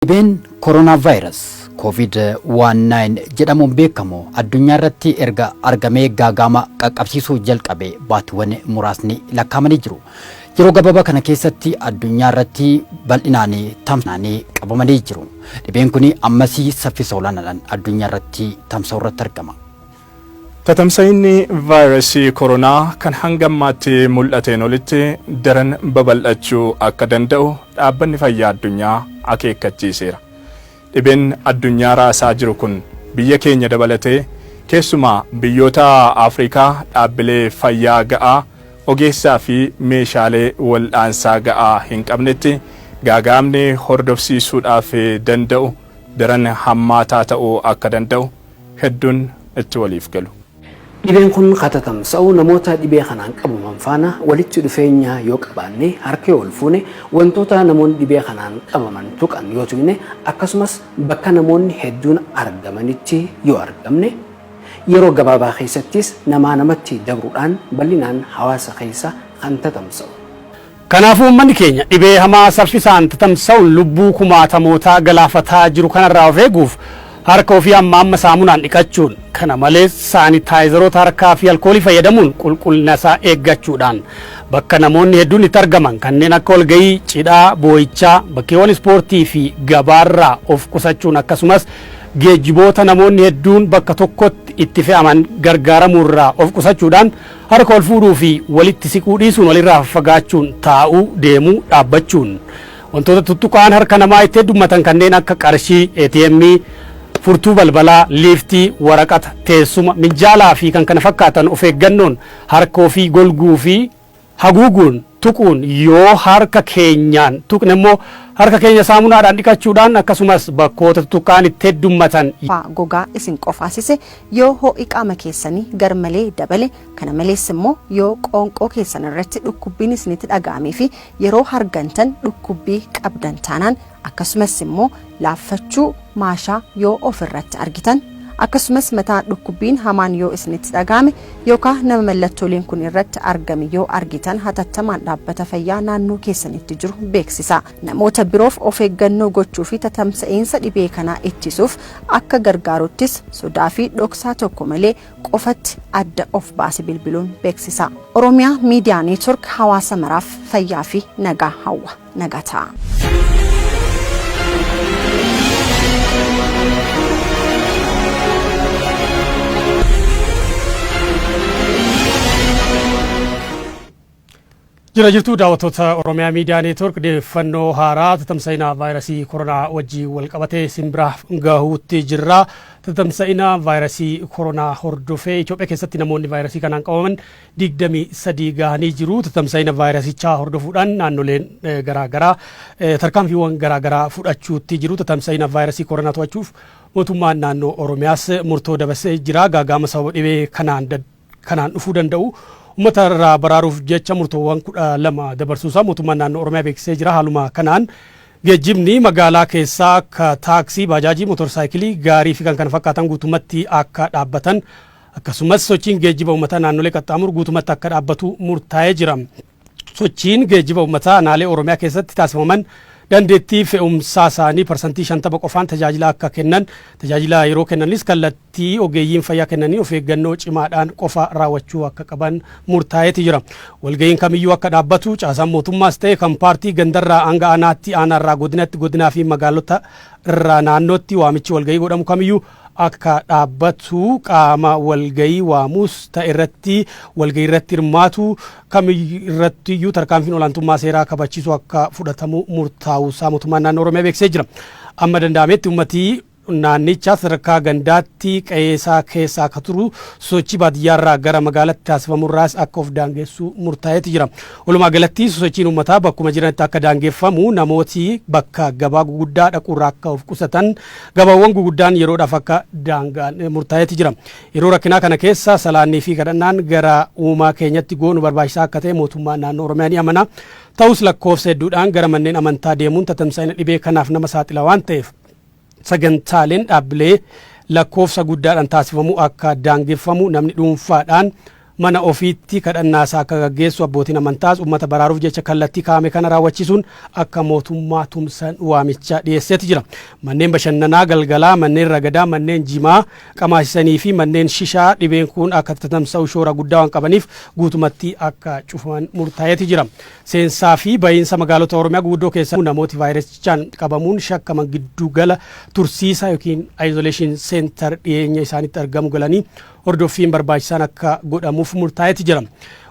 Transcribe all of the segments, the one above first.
Dhibeen Koronaavaayiras, Covid 19, jedhamuun beekamu addunyaa irratti erga argamee gaaga'ama qaqqabsiisuu jalqabe baatiwwan muraasni lakkaa'amanii jiru. Yeroo gabaabaa kana keessatti addunyaa irratti bal'inaan tamsa'anii qabamanii jiru. Dhibeen kun ammasii saffisa olaanaadhaan addunyaa irratti tamsa'uu irratti argama. Tatamsa'inni vaayirasii koronaa kan hanga ammaatti mul'ateen olitti daran babal'achuu akka danda'u Dhaabbanni Fayyaa Addunyaa akeekkachiiseera. Dhibeen addunyaa raasaa jiru kun biyya keenya dabalatee keessumaa biyyoota Afrikaa dhaabbilee fayyaa ga'aa, ogeessaa fi meeshaalee waldhaansaa ga'aa hin qabnetti gaaga'amni hordofsiisuudhaaf danda'u daran hammaataa ta'uu akka danda'u hedduun itti waliif galu. Dhibeen kun katatam sa'uu namoota dhibee kanaan qabaman faana walitti dhufeenya yoo qabaanne, harka yoo wal fuune, wantoota namoonni dhibee kanaan qabaman tuqan yoo tuqne, akkasumas bakka namoonni hedduun argamanitti yoo argamne, yeroo gabaabaa keessattis namaa namatti dabruudhaan bal'inaan hawaasa keessa kan tatamsa'u. Kanaafuu uummanni keenya dhibee hamaa saffisaan tatamsa'uun lubbuu kumaatamootaa galaafataa jiru kanarraa of eeguuf harka ofii amma amma saamunaan dhiqachuun, kana malees saanitaayizaroota harkaa fi alkoolii fayyadamuun qulqullina isaa eeggachuudhaan, bakka namoonni hedduun itti argaman kanneen akka walga'ii, cidhaa, boo'ichaa, bakkeewwan ispoortii fi gabaarraa of qusachuun akkasumas geejjiboota namoonni hedduun bakka tokkotti itti fe'aman gargaaramuurraa of qusachuudhaan Harka wal fuudhuu fi walitti siquu dhiisuun walirraa faffagaachuun taa'uu, deemuu, dhaabbachuun wantoota tuttuqaan harka namaa itti heddummatan kanneen akka qarshii, ATM, furtuu balbalaa, liiftii, waraqata, teessuma, minjaalaa fi kan kana fakkaatan of eeggannoon harka ofii golguu fi haguuguun tuquun yoo harka keenyaan tuqne immoo harka keenya saamunaadhaan dhiqachuudhaan akkasumas bakkoota tuttuqqa'an itti heddummatan. faa gogaa isin qofaasise, yoo hoo'i qaama keessanii garmalee dabale, kana malees immoo yoo qoonqoo keessan irratti dhukkubbiin isinitti dhaga'amee fi yeroo hargantan dhukkubbii qabdan taanaan akkasumas immoo laaffachuu maashaa yoo of irratti argitan akkasumas mataa dhukkubbiin hamaan yoo isinitti dhaga'ame yookaan nama mallattooleen kun irratti argame yoo argitan hatattamaan dhaabbata fayyaa naannoo keessanitti jiru beeksisa namoota biroof of eeggannoo gochuu fi tatamsa'iinsa dhibee kanaa ittisuuf akka gargaaruttis sodaa fi dhoksaa tokko malee qofatti adda of baase bilbiluun beeksisa oromiyaa miidiyaa neetwork hawaasa maraaf fayyaa fi nagaa hawwa. Nagaa Jira jirtuu daawwattoota Oromiyaa Miidiyaa Neetwoork deeffannoo haaraa tatamsa'ina vaayirasii koronaa wajjin wal qabatee isin biraa gahuutti jirra. Tatamsa'ina vaayirasii koronaa hordofee Itoophiyaa keessatti namoonni vaayirasii kanaan qabaman 23 gahanii jiru. Tatamsa'ina vaayirasichaa hordofuudhaan naannoleen garaa garaa tarkaanfiiwwan garaa garaa fudhachuutti jiru. Tatamsa'ina vaayirasii koronaa to'achuuf mootummaan naannoo Oromiyaas murtoo dabarsee jira. Gaaga'ama sababa dhibee kanaan kanaan dhufuu danda'u uummata irraa baraaruuf jecha murtoowwan kudha lama dabarsuusaa mootummaan naannoo Oromiyaa beeksisee jira. Haaluma kanaan geejjibni magaalaa keessaa akka taaksii, baajaajii, motorsaayikilii, gaarii fi kan kana fakkaatan guutumatti akka dhaabbatan Akkasumas sochiin geejjiba uummataa naannolee qaxxaamuru guutumatti akka dhaabbatu murtaa'ee jira. Sochiin geejjiba uummataa aanaalee Oromiyaa keessatti taasifaman dandeettii fe'umsaa isaanii parsantii 50 qofaan tajaajila akka kennan, tajaajila yeroo kennanis kallattii ogeeyyiin fayyaa kennanii of eeggannoo cimaadhaan qofa raawwachuu akka qaban murtaa'eeti jira. Walga'iin kamiyyuu akka dhaabbatu caasaan mootummaas ta'e kan paartii gandarraa hanga aanaatti, aanaarraa godinatti, godinaa fi magaalota irraa naannootti waamichi walga'ii godhamu kamiyyuu akka dhaabbatu qaama walgahii waamus ta'e irratti walgahii irratti hirmaatu kam irratti iyyuu tarkaanfiin olaantummaa seeraa kabachiisu akka fudhatamu murtaa'uu isaa mootummaan naannoo Oromiyaa beeksisee jira. Amma danda'ametti uummatii naannichaa sadarkaa gandaatti qe'ee isaa keessa akka turu sosochii baadiyyaarraa gara magaalatti taasifamurraas akka of daangessu murtaa'eeti jira. Walumaa galatti sosochiin uummataa bakkuma jiranitti akka daangeffamu namooti bakka gabaa guguddaa dhaquurraa akka of qusatan Gabaawwan guguddaan yeroodhaaf akka daangaan murtaa'eeti jira. Yeroo rakkinaa kana keessa salaannii fi kadhannaan gara uumaa keenyatti goonu barbaachisaa akka ta'e mootummaan naannoo Oromiyaa ni amana. Ta'us lakkoofsa hedduudhaan gara manneen amantaa deemuun tatamsa'ina dhibee kanaaf nama saaxila waan ta'eef sagantaaleen dhaabbilee lakkoofsa guddaadhaan taasifamu akka daangeffamu namni dhuunfaadhaan mana ofiitti kadhannaasaa akka gaggeessu, abbootiin amantaas ummata baraaruuf jecha kallattii kaa'ame kana raawwachiisuun akka mootummaa tumsan waamicha dhiyeesseeti jira. Manneen bashannanaa galgalaa, manneen ragadaa, manneen jimaa qamaasisanii fi manneen shishaa dhibeen kun akka tatamsa'u shoora guddaa waan qabaniif guutumatti akka cufaman murtaa'eeti jira. Seensaa fi bahiinsa magaalota Oromiyaa guguddoo keessaa namooti vaayirasichaan qabamuun shakkaman giddu gala tursiisa yookiin isolation center dhiyeenya isaanitti argamu galanii hordoffiin barbaachisaan akka godhamuuf murtaa'eeti jira.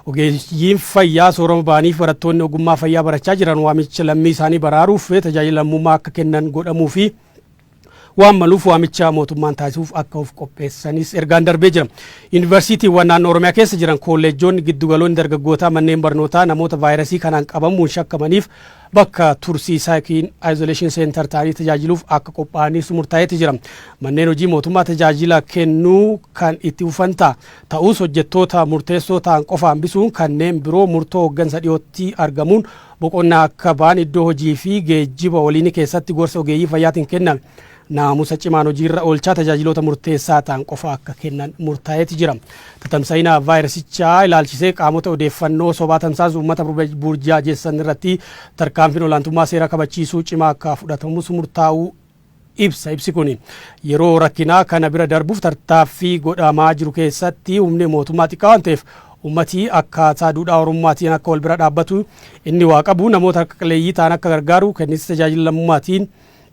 Ogeeyyiin fayyaa soorama ba'aniif barattoonni ogummaa fayyaa barachaa jiran waamicha lammii isaanii baraaruuf tajaajila lammummaa akka kennan godhamuu fi waan maluuf waamicha mootummaan taasisuuf akka of qopheessanis ergaan darbee jira. Yuunivarsiitiiwwan naannoo Oromiyaa keessa jiran koolleejjoonni, giddugaloonni dargaggootaa, manneen barnootaa namoota vaayirasii kanaan qabamuun shakkamaniif bakka tursiisaa yookiin isolation center ta'anii tajaajiluuf akka qophaa'aniis murtaa'eeti jira. Manneen hojii mootummaa tajaajila kennuu kan itti fufan ta'a. Ta'us hojjettoota murteessoo ta'an qofa hambisuun kanneen biroo murtoo hooggansa dhiyootti argamuun boqonnaa akka ba'an iddoo hojii fi geejjiba waliinii keessatti gorsa ogeeyyii fayyaatiin kenname. naamusa cimaan hojiirra oolchaa tajaajiloota murteessaa ta'an qofa akka kennan murtaa'eeti jira. Tatamsa'ina vaayirasichaa ilaalchisee qaamota odeeffannoo sobaa tamsaasu uummata burjaajessan irratti tarkaanfiin olaantummaa seeraa kabachiisuu cimaa akka fudhatamus murtaa'uu ibsa. Ibsi kun yeroo rakkinaa kana bira darbuuf tartaaffii godhamaa jiru keessatti humni mootummaa xiqqaa waan ta'eef ummati akkaataa duudhaa Oromummaatiin akka wal bira dhaabbatu inni waa qabu namoota harka qalleeyyii ta'an akka gargaaru kenninsi tajaajila lammummaatiin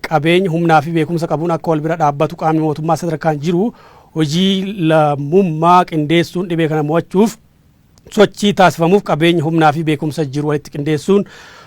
qabeenya, humnaa fi beekumsa qabuun akka wal bira dhaabbatu qaamni mootummaa sadarkaan jiru hojii lammummaa qindeessuun dhibee kana mo'achuuf sochii taasifamuuf qabeenya, humnaa fi beekumsa jiru walitti qindeessuun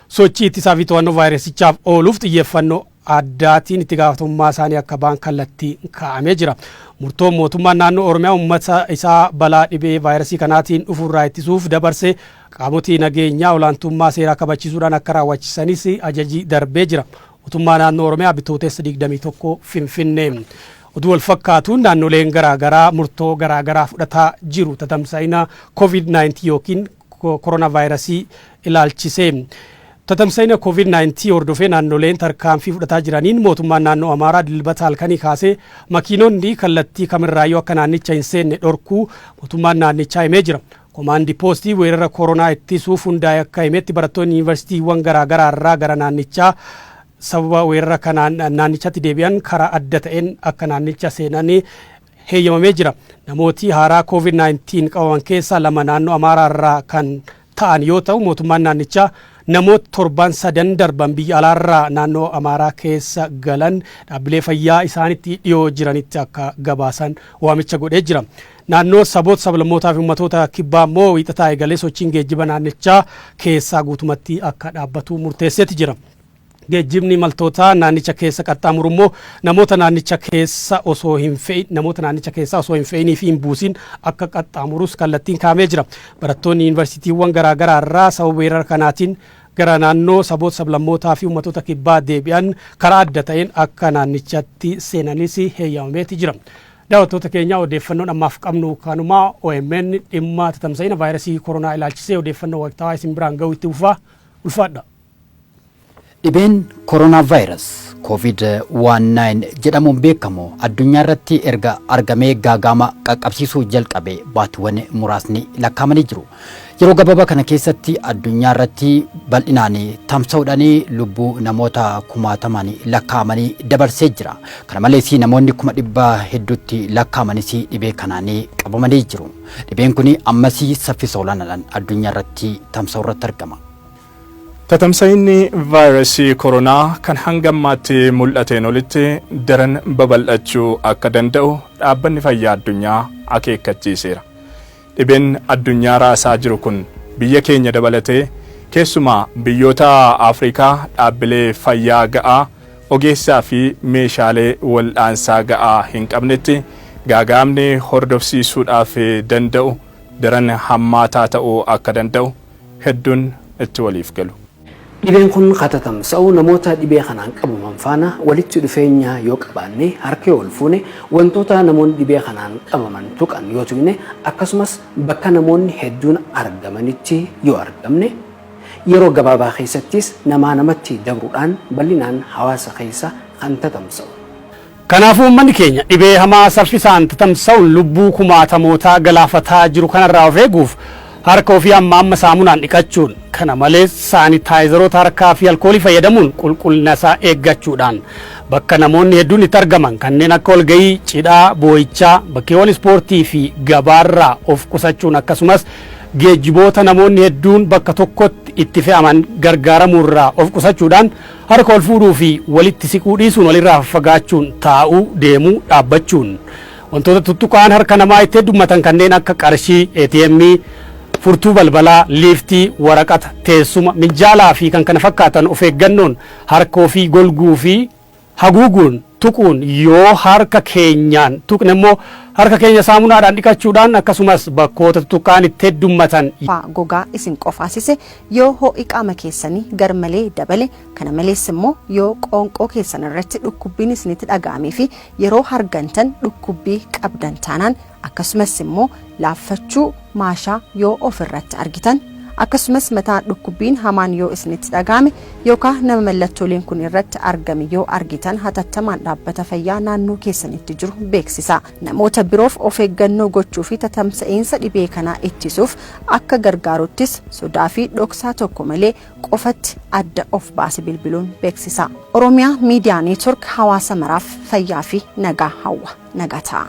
sochii ittisaa fi to'annoo vaayirasichaaf ooluuf xiyyeeffannoo addaatiin itti gaafatamummaa isaanii akka ba'an kallattii kaa'amee jira. Murtoon mootummaan naannoo Oromiyaa uummata isaa balaa dhibee vaayirasii kanaatiin dhufu irraa ittisuuf dabarse Qaamoti nageenyaa olaantummaa seeraa kabachiisuudhaan akka raawwachisanis ajaji darbee jira. Mootummaa Naannoo Oromiyaa Bitootessa 21 Finfinnee. Oduu walfakkaatuun naannoleen garaagaraa murtoo garaagaraa fudhataa jiru tatamsa'ina Covid-19 yookiin koronaavaayirasii ilaalchisee. Tatamsa'ina Covid-19 hordofee naannoleen tarkaanfii fudhataa jiraniin mootummaan naannoo Amaaraa dilbata halkanii kaasee makiinonni kallattii kamirraayyuu akka naannicha hin seenne dhorkuu mootummaan naannichaa himee jira. Komaandi Poostii weerara Koronaa ittisuuf hundaa'e akka himetti barattoonni Yuunivarsiitiiwwan garaa garaa irraa gara naannichaa sababa weerara kanaan naannichatti deebi'an karaa adda ta'een akka naannicha seenan heeyyamamee jira. Namooti haaraa Covid 19 qabaman keessaa lama naannoo Amaaraa irraa kan ta'an yoo ta'u mootummaan naannichaa namoot torban sadan darban biyya alaa irraa naannoo Amaaraa keessa galan dhaabbilee fayyaa isaanitti dhiyoo jiranitti akka gabaasan waamicha godhee jira. Naannoo Saboota, Sablammootaa fi Ummatoota Kibbaa immoo Wiixataa eegalee sochiin geejjiba naannichaa keessaa guutumatti akka dhaabbatu murteesseeti jira. Geejjibni imaltootaa naannicha keessa qaxxaamuru immoo namoota naannicha keessa osoo hin fe'in namoota naannicha keessaa osoo hin fe'inii fi hin buusin akka qaxxaamurus kallattiin kaa'amee jira. Barattoonni yuunivarsiitiiwwan garaa garaa irraa sababa weerara kanaatiin gara naannoo Saboota, Sablammootaa fi Ummatoota Kibbaa deebi'an karaa adda ta'een akka naannichatti seenanis heeyyamameeti jira. Daawwattoota keenya odeeffannoon ammaaf qabnu kanuma. omn dhimma tatamsa'ina vaayirasii koronaa ilaalchisee odeeffannoo waqtaawaa isin biraan ga'uu itti fufa. Ulfaadha! Dhibeen Corona Virus, Covid 19, jedhamuun beekamu addunyaa irratti erga argamee gaaga'ama qaqqabsiisuu jalqabe baatiwwan muraasni lakkaa'amanii jiru. Yeroo gababa kana keessatti addunyaa irratti bal'inaan tamsa'uudhaan lubbuu namoota kumaatamaan lakkaa'amanii dabarsee jira. Kana malees namoonni kuma dhibba hedduutti lakkaa'amanis dhibee kanaan qabamanii jiru. Dhibeen kun ammas saffisa olaanaadhaan addunyaa irratti tamsa'u irratti argama. Tatamsa'inni vaayirasii koronaa kan hanga ammaatti mul'ateen olitti daran babal'achuu akka danda'u dhaabbanni fayyaa addunyaa akeekkachiiseera. Dhibeen addunyaa raasaa jiru kun biyya keenya dabalatee keessumaa biyyoota Afrikaa dhaabbilee fayyaa ga'aa, ogeessaa fi meeshaalee waldhaansaa ga'aa hin qabnetti gaaga'amni hordofsiisuudhaaf danda'u daran hammaataa ta'uu akka danda'u hedduun itti waliif galu. Dhibeen kun katatamsa'u namoota dhibee kanaan qabaman faana walitti dhufeenya yoo qabaanne, harka yoo walfuune, wantoota namoonni dhibee kanaan qabaman tuqan yoo tuqne, akkasumas bakka namoonni hedduun argamanitti yoo argamne, yeroo gabaabaa keessattis namaa namatti dabruudhaan bal'inaan hawaasa keessa kan tatamsa'u. Kanaafuu uummanni keenya dhibee hamaa saffisaan tatamsa'uun lubbuu kumaatamootaa galaafataa jiru kanarraa of eeguuf harka ofii amma amma saamunaan dhiqachuun, kana malees saanitaayizaroota harkaa fi alkoolii fayyadamuun qulqullina isaa eeggachuudhaan, bakka namoonni hedduun itti argaman kanneen akka walga'ii, cidhaa, boo'ichaa, bakkeewwan ispoortii fi gabaarraa of qusachuun akkasumas geejjiboota namoonni hedduun bakka tokkotti itti fe'aman gargaaramuurraa of qusachuudhaan Harka wal fuudhuu fi walitti siquu dhiisuun walirraa faffagaachuun taa'uu, deemuu, dhaabbachuun wantoota tuttuqaan harka namaa itti heddummatan kanneen akka qarshii, ATM, furtuu balbalaa, liiftii, waraqata, teessuma, minjaalaa fi kkf of eeggannoon harka ofii golguu fi haguuguun tuquun yoo harka keenyaan tuqne immoo harka keenya saamunaadhaan dhiqachuudhaan akkasumas bakkoota tutuqqa'an itti heddummatan. faa gogaa isin qofaasise, yoo hoo'i qaama keessanii garmalee dabale, kana malees immoo yoo qoonqoo keessan irratti dhukkubbiin isinitti dhaga'amee fi yeroo hargantan dhukkubbii qabdan taanaan akkasumas immoo laaffachuu maashaa yoo of irratti argitan akkasumas mataa dhukkubbiin hamaan yoo isinitti dhaga'ame yookaan nama mallattooleen kun irratti argame yoo argitan hatattamaan dhaabbata fayyaa naannoo keessanitti jiru beeksisa namoota biroof of eeggannoo gochuu fi tatamsa'iinsa dhibee kanaa ittisuuf akka gargaaruttis sodaa fi dhoksaa tokko malee qofatti adda of baase bilbiluun beeksisa oromiyaa miidiyaa neetwork hawaasa maraaf fayyaa fi nagaa hawwa. Nagaa ta'aa.